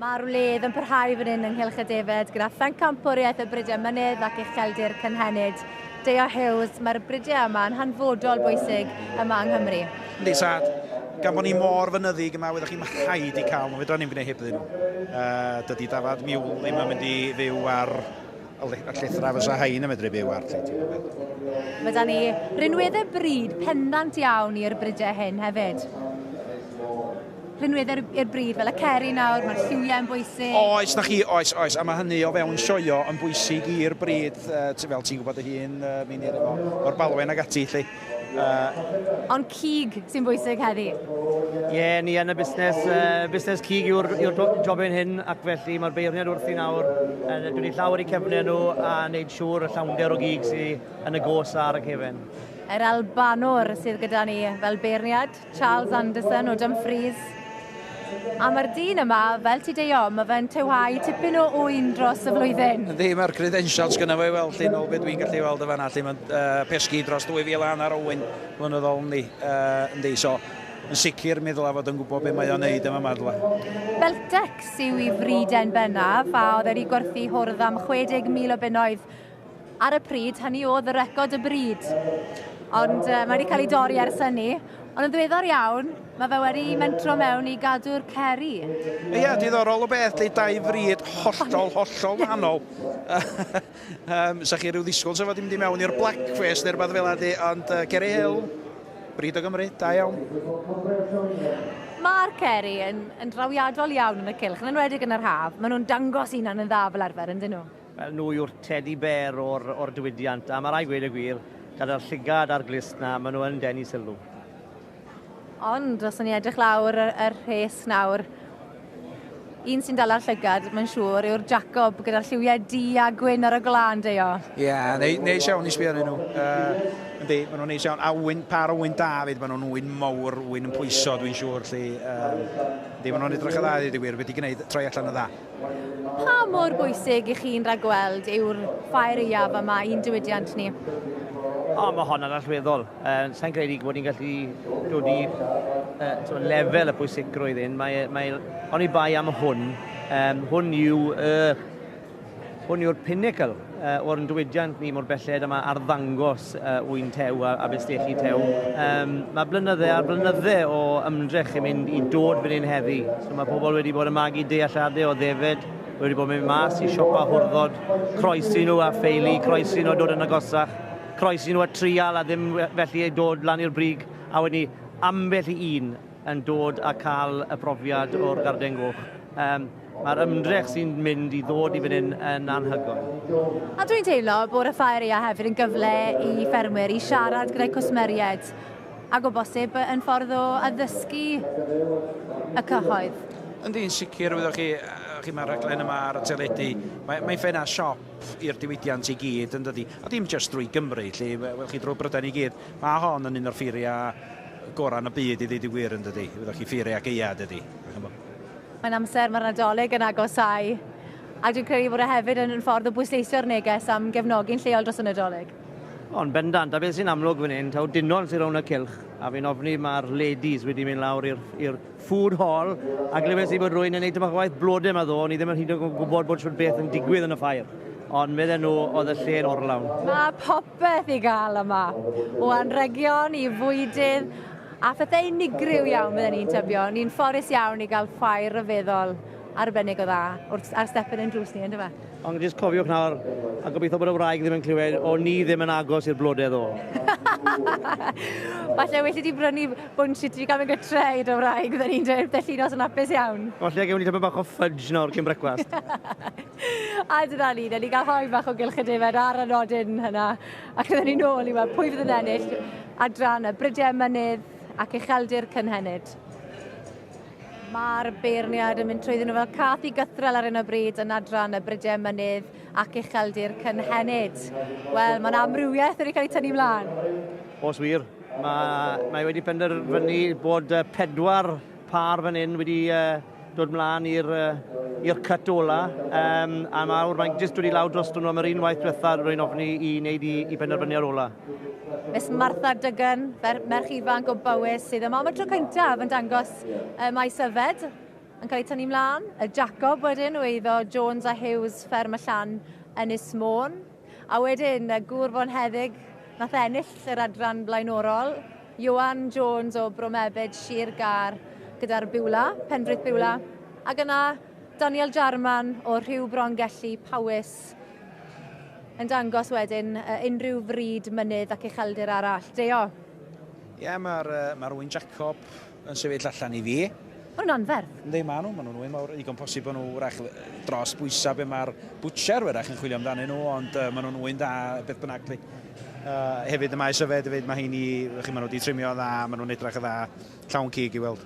Mae'r wledd yn parhau fan hyn ynghylch y defed gyda phenc campwriaeth y bridiau mynydd ac ucheldir cynhenid. Deo Hughes, mae'r bridiau yma yn hanfodol bwysig yma yng Nghymru. Yndi, sad. Gan bod ni mor fynyddig yma, wyddoch chi, mae rhaid i cael nhw. Fedra ni'n gwneud heb ddyn nhw. Uh, dydy dafad miwl ddim yn mynd i fyw ar a llithra fysa rhain yn medru byw ar ti, ti'n gwybod. Mae da ni rinweddau bryd pendant iawn i'r brydau hyn hefyd. Rinweddau i'r bryd, fel y ceri nawr, mae'r lliwiau yn bwysig. Oes, na chi, oes, oes, a mae hynny o fewn sioio yn bwysig i'r bryd, uh, fel ti'n gwybod y hun, uh, mi'n i'r efo, o'r balwen ag ati, lle. Uh, Ond cig sy'n bwysig heddi? Ie, yeah, ni yn y busnes, uh, busnes cig yw'r yw job ein hyn, ac felly mae'r beirniad wrth i nawr, uh, dwi'n ei llawer i cefnu nhw a wneud siŵr y llawnder o gig sy'n yn y gos ar y cefen. Yr Albanwr sydd gyda ni fel beirniad. Charles Anderson o Dumfries. A mae'r dyn yma, fel ti deio, mae fe'n tewhau tipyn o ŵyn dros y flwyddyn. Yndi, mae'r credentials gyda fe, wel, llun o beth dwi'n gallu weld y fanna, lle mae'n uh, pesgi dros 2,000 hanner o ŵyn flynyddol, yndi, uh, yndi, so yn sicr mi ddylai fod yn gwybod beth mae o'n neud yma madla. Beltex yw i friden bennaf, a oedd wedi gwerthu hwrdd am 60,000 o bunnoedd Ar y pryd, hynny oedd y record y bryd. Ond uh, mae wedi cael ei dorri ers hynny. Ond yn ddiweddar iawn, mae fe wedi mentro mewn i gadw'r ceri. Ie, yeah, diddorol o beth, lle dau fryd hollol, hollol wahanol. um, Sa chi rhyw ddisgwyl sef fod i'n mynd i mewn i'r blackface neu rhywbeth fel ydy, ond uh, Geri Hill, bryd o Gymru, da iawn. Mae'r ceri yn, yn drawiadol iawn yn y cilch, yn enwedig yn yr haf. Maen nhw'n dangos unan yn dda fel arfer, yn dyn nhw? Nhw yw'r tedi bêr o'r diwydiant, a ma' rai' gweud y gwir, gyda'r llygad a'r glust 'na, ma' nhw yn denu sylw. Ond os o'n ni'n edrych lawr y rhes nawr, un sy'n dala'r llygad, mae'n siŵr, yw'r Jacob, gyda'r lliwiau du a gwyn ar y gwlân, Deio. Ie, neis iawn i sbio arnyn nhw. Yndi, ma' nhw'n neis iawn. A ŵyn, pâr o ŵyn da 'fyd, ma' nhw'n ŵyn mowr, ŵyn yn pwyso dwi'n siŵr 'lly. Yndi, ma' nhw'n edrych yn dda i ddeud y gwir, wedi gwneud troi allan yn dda. Pa mor bwysig i chi'n rhagweld yw'r ffair iaf yma i'n diwydiant ni? O, mae hon yn allweddol. Uh, Sa'n credu bod ni'n gallu dod i uh, lefel y pwysigrwydd hyn. Mae, e, mae, oni bai am hwn, um, hwn yw uh, hwn yw'r pinnacle uh, o'r diwydiant ni mor belled a mae arddangos uh, wy'n tew a, a bestechi tew. Um, mae blynydde ar blynydde o ymdrech i mynd i dod fan hyn heddi. So mae pobl wedi bod yn magu dealladau o ddefed, wedi bod yn mynd mas i siopa hwrddod, croesi nhw a ffeili, croesi nhw a dod yn agosach, croesi nhw a trial a ddim felly ei dod lan i'r brig, a wedyn ni ambell i un yn dod a cael y profiad o'r Garden Goch. Um, Mae'r ymdrech sy'n mynd i ddod i fan hyn yn anhygoel. A dwi'n teimlo bod y ffaeria hefyd yn gyfle i ffermwyr i siarad gyda'i cwsmeriaid ac o bosib yn ffordd o addysgu y cyhoedd. Yndi'n sicr, wyddoch chi, chi mae'r rhaglen yma ar y teledu, mae, mae ffena siop i'r diwydiant i gyd yn dydi, a dim jyst drwy Gymru, lle, wel chi drwy Brydain i gyd, mae hon yn un o'r ffeiriau gorau yn y byd i ddeud y gwir yn dydy. Wyddoch chi ffeiriau ac eia dydy. Mae'n amser, mae'r Nadolig yn agosau. A dwi'n credu bod e hefyd yn ffordd o bwysleisio'r neges am gefnogi'n lleol dros y Nadolig. Ond bendant, a beth sy'n amlwg fan hyn, taw dinon sy'n rownd y cylch, a fi'n ofni mae'r ladies wedi mynd lawr i'r food hall, a glywes i bod rwy'n yn gwneud tyma'n waith blodau yma ddo, ni ddim yn hyd yn gwybod bod siwr beth yn digwydd yn y ffair. Ond medden nhw oedd y lle yn orlawn. Mae beth i gael yma. O anregion i fwydydd a phethau unigryw iawn fydden ni'n tybio. Ni'n ffodus iawn i gael chwaer ryfeddol arbennig o dda wrth ar step yn ein drws ni, yndyfe? Ond jyst cofiwch nawr, a gobeithio bod y wraig ddim yn clywed, o ni ddim yn agos i'r blodedd o. Falle well i ti brynu bwnsh i ti gael mynd gytre i dy wraig, fydden ni'n dweud, bydd llinos yn hapus iawn. Falle gewn ni tipyn bach o fudge nawr cyn brecwast. A dyna ni, na ni gael haen bach o gylch y defaid ar y nodyn hynna. Ac dyna ni nôl i weld pwy fydd yn ennill adran y brydiau mynydd ac ucheldir cynhenid. Mae'r beirniad yn mynd trwyddyn nhw fel cath i gythrel ar hyn o bryd yn adran y brydiau mynydd ac ucheldir cynhenid. Wel, mae'n amrywiaeth wedi cael ei tynnu mlaen. Os wir, mae, mae wedi penderfynu bod pedwar par fan hyn wedi uh, dod mlaen i'r i'r cut ola, um, a mawr, mae'n jyst wedi lawr dros nhw am yr un waith diwetha rwy'n ofni i wneud i, i benderfyniad ola. Miss Martha Dygan, merch ifanc o Bowys, sydd yma am y tro cyntaf yn dangos y maes yfed yn cael ei tynnu mlaen. Y Jacob wedyn o eiddo Jones a Hughes, fferm y llan, Ynys Môn. A wedyn, y gŵr fonheddig nath ennill yr adran blaenorol, Ioan Jones o Bro Mebyd, Sir Gâr, gyda'r Biwla, Penfrith Biwla, ac yna Daniel Jarman o Rhiw Brongelli, Powys, yn dangos wedyn uh, unrhyw fryd, mynydd ac ucheldir arall. Deo. Ie, mae'r uh, ma Owen Jacob yn sefyll allan i fi. Maen nhw'n anferth. Yndi, maen nhw, maen nhw'n wy mawr. Ddigon posib bod nhw wrach dros bwysau be mae'r butcher wrach yn chwilio amdanyn nhw, ond uh, maen nhw'n wy'n dda beth bynnag. Uh, hefyd y maes yfed, hefyd mae hyn i, chi maen nhw wedi trimio dda, maen nhw'n edrych y dda, llawn cig i weld.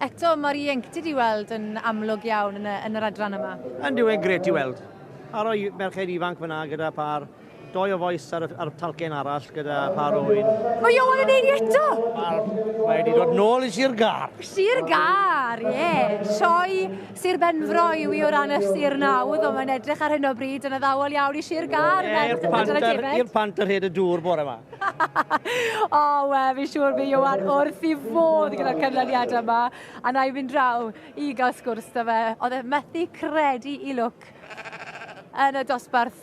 Eto, mae'r ieuenctid i weld yn amlwg iawn yn, y, yn yr adran yma. Yn diwedd gret i weld. A roi merched ifanc fyna gyda par Doi o fois ar y, ar y talcen arall gyda par o wyn. Mae Iowan yn ei ni eto! Wel, mae wedi dod nôl i Sir Gar. Sir Gar, ie. Yeah. Sioi Sir Benfro i wi o ran y Sir Nawdd, ond mae'n edrych ar hyn o bryd yn addawol iawn i Sir Gar. Ie, yeah, i'r panter, ir panter hyd y dŵr bore yma. o, oh, we, fi siŵr fi Iowan wrth i fod gyda'r cynlyniad yma. A na i fynd draw i gael sgwrs da fe. Oedd e methu credu i lwc yn y dosbarth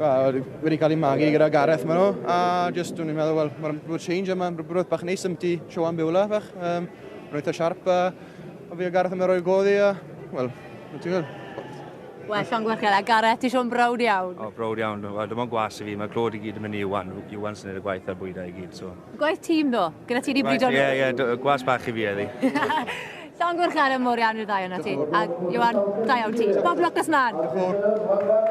Wel, wedi cael ei magu gyda Gareth maen nhw, a jyst dwi'n meddwl, wel, mae'n rhywbeth change yma, rhywbeth bach neis am ti, show am biwla, fach. Um, mae'n eitha siarp, a, a fi a Gareth yn mynd roi'r goddi, a, wel, mae'n ti'n meddwl? Wel, Sean Gwerchel, a Gareth, ti siôn brawd iawn? O, brawd iawn. Wel, dim ond gwas i fi. Mae clod i gyd yn mynd i Iwan. Iwan sy'n neud y gwaith a'r bwydau i gyd, so. Gwaith tîm do, gyda ti wedi brido nhw. Ie, ie, do- gwas bach i fi eddi. Llon Gwrchel yn mor iawn i'r ddau o'na ti. A Iwan, da iawn ti. Bob lwc nes mlaen.